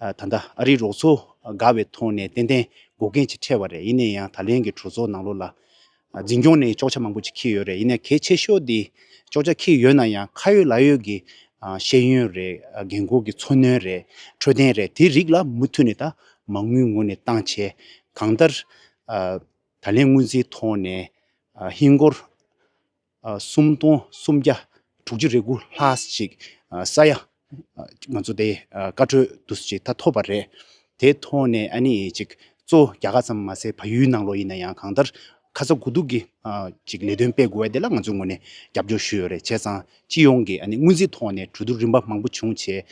ད་ལྟ་ཨ་རིའི་རོགས་ཚོ་དགའ་བའི་ཐོག་ནས་ཏན་ཏན་འགོག་རྐྱེན་ཅིག་འཕྲད་པ་རེད་ཡིན་ན་ཡང་ད་ལན་གྱི་གྲོས་ཚོགས་ནང་ལོགས་ལ་འཛིན་སྐྱོང་ནས་ཅོག་ཆ་མང་པོ་ཅིག་འཁྱིལ་ཡོད་རེད་ཡིན་ན་གལ་ཆེ་ཤོས་དེ་ཅོག་ཆ་འཁྱིལ་ཡོད་ན་ཡང་ཁ་ཡོད་ལག་ཡོད་ཀྱི་ཤེས་ཡོན་རེད་རྒན་འཁོགས་ཀྱི་འཚོ་སྣོན་རེད་འཕྲོད་བསྟེན་རེད་དེ་རིགས་ལ་མུ་མཐུད་ནས་ད་མ་དངུལ་ངོ་ནས་བཏང་བྱས་གང་ལྟར་ད་ལན་དངུལ་རྩིའི་ཐོག་ནས་ཧིན་སྒོར་སུམ་སྟོང་སུམ་བརྒྱ་དྲུག་ཅུ་རེ་དགུ་ལྷག་ཅིག་ས་ཡ་ང་ཚོ་དེ་བཀའ་འཁྲོལ་བསྡུ་ས་ཅིག་ད་ཐོབ་པ་རེད། དེ་ཐོག་ནས་ཨ་ནི་ཅིག་གཙོ་བོ་རྒྱ་གར་ཙམ་མ་ཟད་བལ་ཡུལ་ནང་ལོགས་ཡིན་ན་ཡང་གང་ལྟར་ཁ་ཚ་དགོས་གཏུགས་ཀྱི་ཅིག་ལས་དོན་སྤེལ་དགོས་བ་དེ་ལ་ང་ཚོའི་ངོས་ནས་རྒྱབ་སྐྱོར་ཞུས་ཡོད་རེད་བྱས་ཙང་སྤྱི་ཡོངས་ཀྱི་ཨ་ནི་སྔོན་རྩིས་ཐོག་ནས་གྲོས་བསྡུར་རིམ་པ་མང་པོ་བྱུང་བྱས།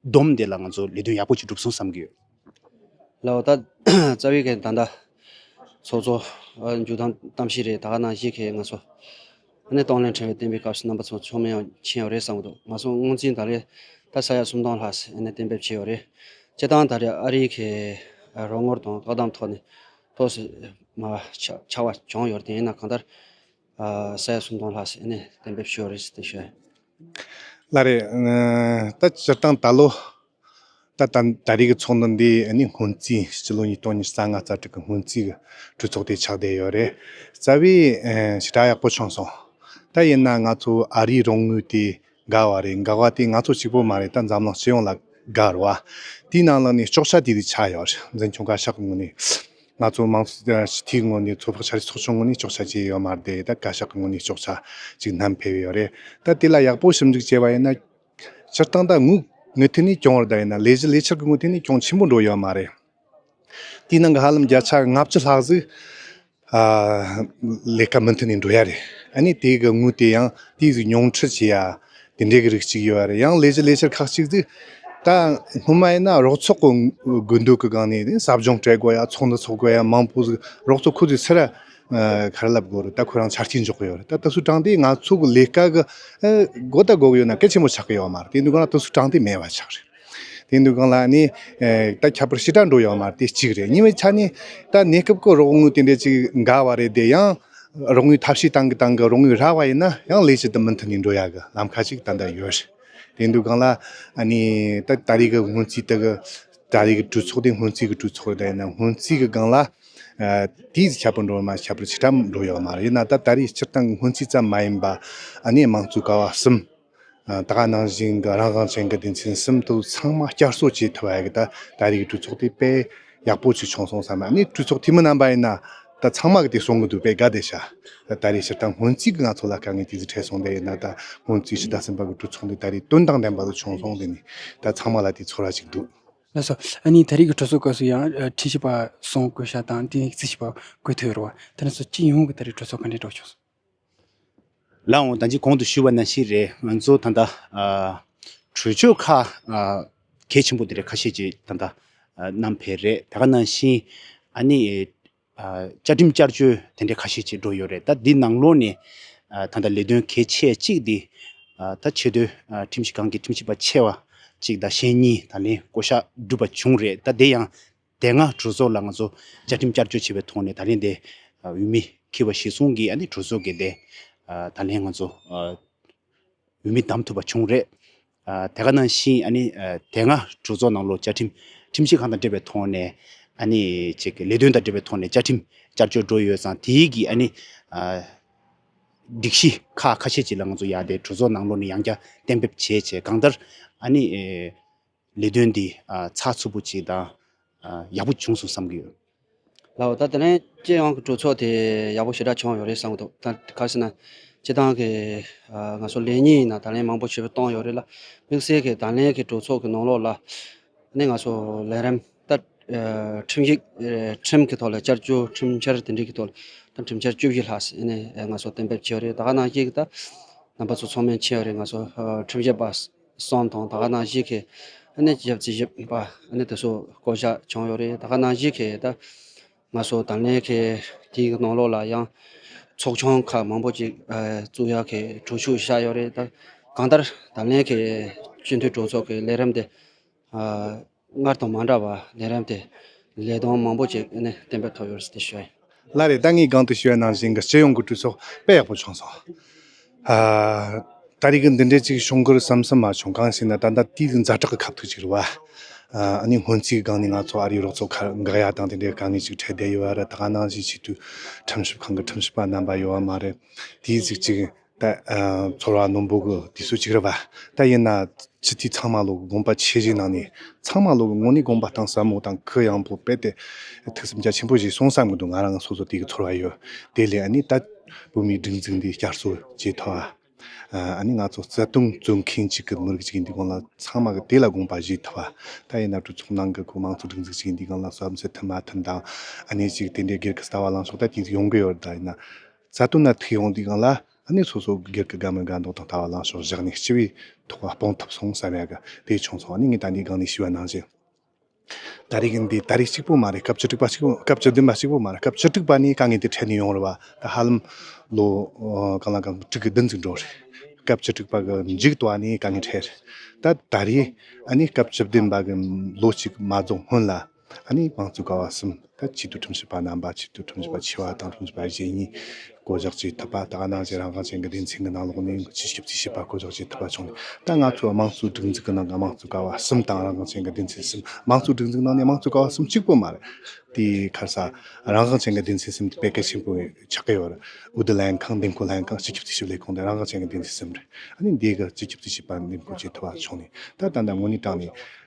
བསྡོམས་དེ་ལ་ང་ཚོ་ལས་དོན་ཡག་པོ་ཅིག་སྒྲུབ་སོང་བསམ་གྱི་ཡོད། ལགས། ད་རྩ་བའི་གནད་ད། ཚོགས་གཙོ། མཇུག་དང་གཏམ་བཤད་རེད་ད་ག་ནང་བཞིན་གྱི་ང་ཚོ། ནས་གཏོང་ལེན་ཕྲེང་བའི་བསྟན་པའི་སྐབས་སུ་རྣམ་པ་ཚོ་ཚོགས་མི་ཡང་ཕྱིན་ཡོད་རེད་བསམ་གྱི་འདུག་ང་ཚོ་དངོས་འཛིན་ད་རེས་ད་ས་ཡ་སུམ་སྟོང་ལྷག་ས་ནས་གཏན་འབེབས་བྱས་ཡོད་རེད། སྤྱི་བཏང་ད་རེས་ཨ་རིའི་གི་རོགས་ངོར་དང་བཀག་སྡམ་ཐོག་ནས་ཐོག་སུ་མ་ཆགས་བ་བྱུང་ཡོད་རེད་དེ་ཡིན་ན་གང་ལྟར་ས་ཡ་སུམ་སྟོང་ལྷག་ཞིག་ནས་གཏན་འབེབས་ཞུ་བ་རེད་ཅེས་བཤད། ལ་རེད། ད་སྤྱིར་བཏང་ད་ལོ། ད་ད་ད་རེས་ཀྱི་ཚོགས་འདུ་འདི་ནི་སྔོན་རྩིས་སྤྱི་ལོ་ཉིས་སྟོང་ཉིས་རྩ་ལྔ་རྩ་དྲུག་གི་སྔོན་རྩིས་ཀྱི་གྲོས་ཚོགས་དེ་ཆགས་བསྡད་ཡོད་རེད། རྩ་བའི་ཞི་དྲག་ཡག་པོ་བྱུང་སོང། ད་ཡིན་ན་ང་ཚོ་ཨ་རིའི་རོགས་དངུལ་དེ། དགའ་བ་རེད་དགའ་བ་དེ་ང་ཚོ་གཅིག་པོ་མ་རེད་ད་འཛམ་གླིང་སྤྱི་ཡོངས་ལ་དགའ་རུ་བ། དེའི་ནང་ལ་ནི་ལྕོག་བྱ་དེ་རིགས་ཆགས་ཡོད་རེད་འཛིན་སྐྱོང་བཀའ་ཤག་ངོས་ནས། ང་ཚོ་དམངས་ཁྲིའི་ངོས་ནས་ཚོགས་པ་ཆ་རེ་ཚོགས་ཆུང་ངོས་ནས་ལྕོག་བྱ་བྱས་ཡོད་མ་རེད་ད་བཀའ་ཤག་ངོས་ནས་ལྕོག་བྱ་ཅིག་བསྣམས་ཕེབས་ཡོད་རེད་ད་དེ་ལ་ཡག་པོ་ཞིབ་འཇུག་བྱས་པ་ཡིན་ན། སྤྱིར་བཏང་ད་ངུ་ངུ་ཐད་ནས་སྐྱོང་བར་ད་ཡིན་ན་ལས་གཞི་ལས་འཆར་གྱི་ངོས་ཐད་ནས་སྐྱོང་ཆེན་པོ་འགྲོ་ཡོད་མ་རེད། དེའི་ནང་གི་ཧ་ལམ་བརྒྱ་ཆ་ལྔ་བཅུ་ལྷག་ཟིག་ལས་ཀ་མུ་མཐུད་ནས་འགྲོ་ཡ་རེད། ཨཱ་དེའི་གི་དངུལ་དེ་ཡང་དེའི་གི་མྱོང་ཁྲིད་བྱེད་ཡ། དེ་འདྲའི་གི་རིགས་གཅིག་ཡོད་རེད་ཡང་ལས་ཀྱི་ལས་འཆར་ཁག་གཅིག་ཟིག་ད་སྔོན་མ་ཡིན་ན་རོགས་ཚོགས་གི་དགོས་འདོད་གི་སྒང་ནས་ཟབ་སྦྱོང་སྤྲད་དགོས་ཡ་ཚོགས་འདུ་ཚོགས་དགོས་ཡ་མང་པོ་ཟིག་རོགས་ཚོགས་ཁུ་ཚུར་ཚེ་ར་ཁ་ར་ལབ་དགོས་རེད་ད་ཁོ་རང་ཆ་རྐྱེན་འཇོག་གི་ཡོད་རེད་ད་ལྟ་སུ་དྲང་དེ་ང་ཚོ་གི་ལས་ཀ་གི་སྒོ་ད་དགོས་གི་ཡོད་ན་གལ་ཆེན་པོ་ཆགས་གི་ཡོད་མ་རེད་དེ་འདུག་ན་ད་སུ་དྲང་དེ་མེད་པ་ཆགས་རེད། དེང་དུས་གང་ལགས་ནི། ད་ཁྱད་པར་ཕྱི་དགྲ་འགྲོ་ཡང་མ་དེ་གཅིག་རེད་ཉིན་མོའི་ཆ་ནི། ད་གནས་སྐབས་ཀྱི་རོགས་དངུལ་དེ་འདྲས་ཅིག་འགའ་བ་རེད་དེ་ཡང། རོགས་དངུལ་ཐབས་ཤེས་བཏང་གི་བཏང་གི་རོགས་དངུལ་རག་བ་ཡིན་ན་ཡང་ལས་ཅི་དུ་མི་མཐུན་ནས་འགྲོ་ཡ་གི་ལམ་ཁ་ཅིག་ད་ལྟ་ཡོད། དེང་དུས་གང་ལགས་ནི། ད་ད་རེས་ཀྱི་སྔོན་རྩིས་དེ་གི། ད་རེས་ཀྱི་གྲོས་ཚོགས་དེ་སྔོན་རྩིས་ཀྱི་གྲོས་ཚོགས་རེད་ད་ཡིན་ན་སྔོན་རྩིས་ཀྱི་སྒང་ལ། དེའི་ཁྱད་པར་འགྲོ་ཡང་མ་ཁྱད་པར་ཕྱི་དགྲ་འགྲོ་ཡང་མ་རེད་ཡིན་ན་ད་ད་རེས་སྤྱིར་བཏང་གི་སྔོན་རྩིས་ཙམ་མ་ཡིན་པ། ནི་དམངས་གཙོའི་ཀ་བ་གསུམ། དག་སྣང་ཞིང་རང་དབང་ཅན་གྱི་སྡེ་ཚན་གསུམ་དུ་ཚང་མ་བསྐྱར་གསོ་བྱེད་ཐུབ་པ་ཡག་གི་ད་ད་རེས་ཀྱི་གྲོས་ཚོགས་དེ་དཔེ་ཡག་པོ་ཞིག་བྱུང་སོང་བསམ་ཡང་ནི་གྲོས་ཚོགས་འཐུས་མི་རྣམ་པ་ཡིན་ན་ད་ཚང་མ་གི་དེ་གསུང་གི་འདུག་པས་དགའ་བདེ་བྱ། ད་ད་རེས་སྤྱིར་བཏང་སྔོན་རྩིས་ཀྱི་ང་ཚོ་ལ་དཀའ་ངལ་ཇི་ཙི་འཕྲད་སོང་དེ་ཡིན་ན་ད་སྔོན་རྩིས་ཕྱི་ཟླ་གསུམ་པ་གི་གྲོས་ཚོགས་འདི་ད་རེས་དོན་དང་ལྡན་པ་ཞིག་བྱུང་སོང་དེ་ནི་ད་ཚང་མ་ལ་དེ་ཚོར་བ་ཞིག་འདུག། ལ་སོ། ཨ་ནི་ད་རེས་ཀྱི་གྲོས་ཚོགས་སྐབས་སུ་ཡང་ཁྲིད་བྱེད་པ་སོང་བཀོད་བྱ་དང་དེ་ནས་རྩིས་བྱེད་པ་བཀོད་ཐུབ་ཡོད་རེད་བ། དེ་ནས་སོ་སྤྱི་ཡོངས་ཀྱི་ད་རེས་གྲོས་ཚོགས་ག་འདྲའི་འགྲོ་བྱུང་སོང། ལ་འོང་དང་ཅི་གོང་དུ་ཞུས་པ་ནང་བཞིན་རེད་ང་ཚོ་ད་ལྟ་གྲོས་ཆོད་ཁག་གལ་ཆེན་པོ་དེ་རེད་ཁ་ཤས་ཀྱི་ད་ལྟ་ནམ་བེད་རེད་ད་ག་ནང་བཞིན་ཨ་ནི་བཅའ་ཁྲིམས་བསྐྱར་བཅོས་དེ་འདྲས་ཁ་ཤས་བྱེད་འགྲོ་ཡོད་རེད་ད་འདི་ནང་ལོགས་ནས་ད་ལྟ་ལས་དོན་གལ་ཆེ་གཅིག་འདི་ད་ཆེ་བསྟོད་ཁྲིམས་ཞིབ་ཁང་གི་ཁྲིམས་ཞིབ་པ་ཆེ་བ་གཅིག་ད་ཞེ་གཉིས་ད་ལན་བསྐོ་བཞག་བསྒྲུབས་པ་བྱུང་རེད་ད་དེ་ཡང་དེ་སྔ་གྲོས་ཚོགས་ལ་ང་ཚོ་བཅའ་ཁྲིམས་བསྐྱར་བཅོས་བྱས་པའི་ཐོག་ནས་ད་ལན་དེ་འོས་མི་འཁྱེར་བ་གཞི་བཟུང་གིས་གྲོས་ཚོགས་ཀྱི་དེ་ད་ལན་ང་ཚོ་འོས་མི་བདམས་ཐུབ་པ་བྱུང་རེད། དེ་ག་ནང་བཞིན་དེ་སྔ་གྲོས་ཚོགས་ནང་ལོ་བཅའ་ཁྲིམས་ཁྲིམས་གཞི་གང་དང་འབྲེལ་བའི་ཐོག་ནས་ལས་དོན་དང་འབྲེལ་བའི་ཐོག་ནས་བཅའ་ཁྲིམས་བསྐྱར་བཅོས་འགྲོ་ཡོད་ཙང་དེ་གི་སྒྲིག་གཞི་ཁག་ཁ་ཤས་ཅིག་ལ་ང་ཚོ་ཡང་དེ་གྲོས་ཚོགས་ནང་ལོགས་ནས་ཡང་བསྐྱར་གཏན་འབེབས་བྱས་བྱས་གང་ལྟར། ལས་དོན་འདི་ཚགས་ཚུད་པོ་བྱས་དང་ཡག་པོ་བྱུང་སོང་བསམ་གྱི་ཡོད། ལའོ། ད་དེ་རིང་སྤྱི་ཡོངས་ཀྱི་གྲོས་ཚོགས་དེ་ཡག་པོ་ཞེ་དྲག་བྱུང་ཡོད་རེད་བསམ་གྱི་འདུག་ད་ག་ཟེར་ན། སྤྱི་བཏང་གི་ང་ཚོ་ལས་གཉིས་ནང་ད་ལན་མང་པོ་ཞེ་པོ་བཏང་ཡོད་རེད་ལ། དམིགས་བསལ་གྱི་ད་ལན་གྱི་གྲོས་ཚོགས་ཀྱི་ནང་ལོགས་ལ་ནི་ང་ཚོ་ལས་རིམ་ལྟར་ཁྲིམས་ཡིག་ཁྲིམས་ཀྱི་ཐོག་ལ་བསྐྱར་བཅོས་ཁྲིམས་འཆར་དེ་འདྲའི་གི་ཐོག་ལ་ཁྲིམས་འཆར་བཅུ་བཞི་ལྷག་ཟེར་ནས་ང་ཚོ་གཏན་འབེབས་བྱས་ཡོད་རེད་ད་ག་ནང་བཞིན་གྱི་ད་རྣམ་པ་ཚོ་ཚོགས་མི་མཆིས་ཡོད་རེད་ང་ཚོ་ཁྲིམས་ཞིབ་པ། སོང་དང་ད་ག་ནང་བཞི་ཁའི་གནས་བརྒྱད་བརྩི་བཞི་པ་གནས་དེ་སོ་བསྐོ་བཞག་བྱུང་ཡོད་རེད་ད་ག་ནང་བཞི་ཁའི་ད་ང་སོ་དང་ལེན་ཁའི་དེའི་ནང་ལོགས་ལ་ཡང་ཚོགས་ཆུང་ཁག་མང་པོ་ཅིག་བཙུགས་ཡག་གི་གྲོས་ཤུགས་བཞག་ཡོད་རེད་ད་གང་ལྟར་དང་ལེན་ཁའི་སྤྱི་འཐུས་གྲོས་ཚོགས་ཀྱི་ལས་རིམ་དེ་སྔར་དང་མ་འདྲ་བར་གདན་རིམ་དེ་ལས་གདོང་མང་པོ་ཅིག་བསྟན་པའི་ཐོག་ཡོད་རེད་ཞུ། ལ་རེ་ད་ངའི་སྒང་དུ་ཞུ་བ་ནང་བཞིན་གྱི་སྤྱི་ཡོངས་ཀྱི་གྲོས་ཚོགས་དཔེ་ཡག་པོ་བྱུང་སོང། ད་རེས་ཀྱི་འདི་འདྲའི་ཅིག་བྱུང་གི་རུ་བསམ་སུ་མ་བྱུང་གང་ཞིག་ན་ད་ལྟ་དུས་ཀྱི་འཛའ་དྲག་གི་ཁབ་ཐུག་ཅིག་རུ་བ། ཨ་ནི་སྔོན་རྩིས་ཀྱི་སྒང་ནས་ང་ཚོ་ཨ་རིའི་རོགས་ཚོགས་ཁར་དགག་ཡ་དང་དེ་འདྲའི་དཀའ་ངལ་ཅིག་འཕྲད་བསྡད་ཡོད་རེད་ད་ནང་བཞིན་ཆེད་དུ་ཁྲིམས་ཞིབ་ཁང་གི་ཁྲིམས་ཞིབ་པ་རྣམ་པ་ཡོད་བ་མ་རེད་དེའི་གཟིགས་ཅིག། ད་ཚོར་བ་རྣོན་པོ་གི་དུས་སུ་ཅིག་རེ་བ་ད་ཡིན་ན་ཕྱི་དུས་ཚང་མ་ལུགས་དགོངས་པ་ཆེ་བཞེས་གནང་ནས་ཚང་མ་ལུགས་དངོས་གནས་དགོངས་པ་གཏང་ཟབ་མོ་དང་གུ་ཡངས་པོ་སྤེལ་ཏེ་ཐུགས་སེམས་རྒྱ་ཆེན་པོ་བཞེས་སོང་བསམ་གྱི་འདུག་ང་རང་སོ་སོ་དེ་གི་ཚོར་བ་ཡོད་དེ་ལས་ནི་ད་བོད་མིའི་སྒྲིག་འཛུགས་འདི་བསྐྱར་གསོ་བྱས་ཐོག་ཨ་ནི་ང་ཚོ་བརྩེ་དུང་བརྩོན་མཁན་གཅིག་གི་མི་རིགས་གཅིག་ཡིན་དུས་གང་ལ་ཚང་མ་གི་དེ་ལ་དགོངས་པ་བཞེས་ཐུབ་བ་ད་ཡིན་ན་གྲོས་ཚོགས་ནང་གི་གུ་མང་ཚོ་སྒྲིག་འཛུགས་གཅིག་ཡིན་དུས་གང་ལ་བསམ་ཚུལ་མཐུན་མ་མཐུན་དང་ཨ་ནི་ཅིག་དེ་འདྲའི་སྒེར་གི་ལྟ་བ་ལངས་ཕྱོགས་ད་དུས་ཡོང་གི་ཡོད་ད་ཡིན་ན། རྩ་དོན་ལ་ཐུག་ཡོང་དུས་གང་ལ་གནས་སོ་སོའི་སྒེར་གྱི་དགའ་མོས་དགའ་མདོག་དང་ལྟ་བ་ལངས་ཕྱོགས་བཞག་ནས་སྤྱི་བའི་ཐོག་ལ་སྤོང་ཐུབ་སོང་བསམ་ཡག་གི་དེ་བྱུང་སོང་ནི་ངས་ད་ནས་སྒང་ནས་ཞུ་བ་གནང་བཞིན། ད་རེས་ཀྱི་འདི་ད་རེས་གཅིག་པོ་མ་རེད་སྐབས་བཅུ་དྲུག་པ་གཅིག་སྐབས་བཅུ་བདུན་པ་གཅིག་པོ་མ་རེད་སྐབས་བཅུ་དྲུག་པ་ནི་དཀའ་ངལ་དེ་འཕྲད་ནས་ཡོང་རེད་བ་ད་ཧ་ལམ་ལོ་གང་ལ་གང་དྲུག་གི་བདུན་ཚིགས་འགྲོ་རེད་སྐབས་བཅུ་དྲུག་པ་གི་མཇུག་ཏུ་བ་ནི་དཀའ་ངལ་འཕྲད་རེད་ད་ད་རེས་ཨ་ནི་སྐབས་བཅུ་བདུན་པ་གི་ལོ་གཅིག་མ་རྫོགས་སྔོན་ལ། ཨ་ནི་དམངས་གཙོའི་ཀ་བ་གསུམ་དང་ཆེད་དུ་ཁྲིམས་ཞིབ་པ་རྣམ་པ་ཆེད་དུ་ཁྲིམས་ཞིབ་པ་ཆེ་བ་དང་ཁྲིམས་ཞིབ་པ་གཞན་གཉིས་བསྐོ་གཞག་བྱེད་ཐུབ་པ་དང་ནང་བཞིན་རང་དབང་ཅན་གྱི་སྡེ་ཚན་གྱི་ནང་ལོགས་ནས་ཆེད་ཞིབ་ཅིག་བྱེད་པ་བསྐོ་གཞག་བྱེད་ཐུབ་པ་བྱུང་ནས་ད་ང་ཚོའི་དམངས་གཙོའི་སྒྲིག་འཛུགས་ཀྱི་ནང་གི་དམངས་གཙོའི་ཀ་བ་གསུམ་དང་རང་དབང་ཅན་གྱི་སྡེ་ཚན་གསུམ་དམངས་གཙོའི་སྒྲིག་འཛུགས་ནང་ནས་དམངས་གཙོའི་ཀ་བ་གསུམ་གཅིག་པུ་མ་རེད། དེའི་ཁར་ས་རང་དབང་ཅན་གྱི་སྡེ་ཚན་གསུམ་དེ་དཔེ་གལ་ཆེན་པོ་ཆགས་ཀྱི་ཡོད། འོས་བསྡུ་ལྷན་ཁང་འདེམས་བསྐོ་ལྷན་ཁང་སྤྱི་ཁྱབ་ཅིག་ཞིབ་ལས་ཁང་དེ་རང་དབང་ཅན་གྱི་སྡེ་ཚན་གསུམ་རེད། ཨ་ནི་འདིའི་ཁར་སྤྱི་ཁྱབ་ཅིག་ཞིབ་པ་འདེམས་བསྐོ་བྱེད་ཐུབ་པ་བྱུང་ནས་ད་ད་ལྟ་ངོས་ནས་བསྒྲགས་ནས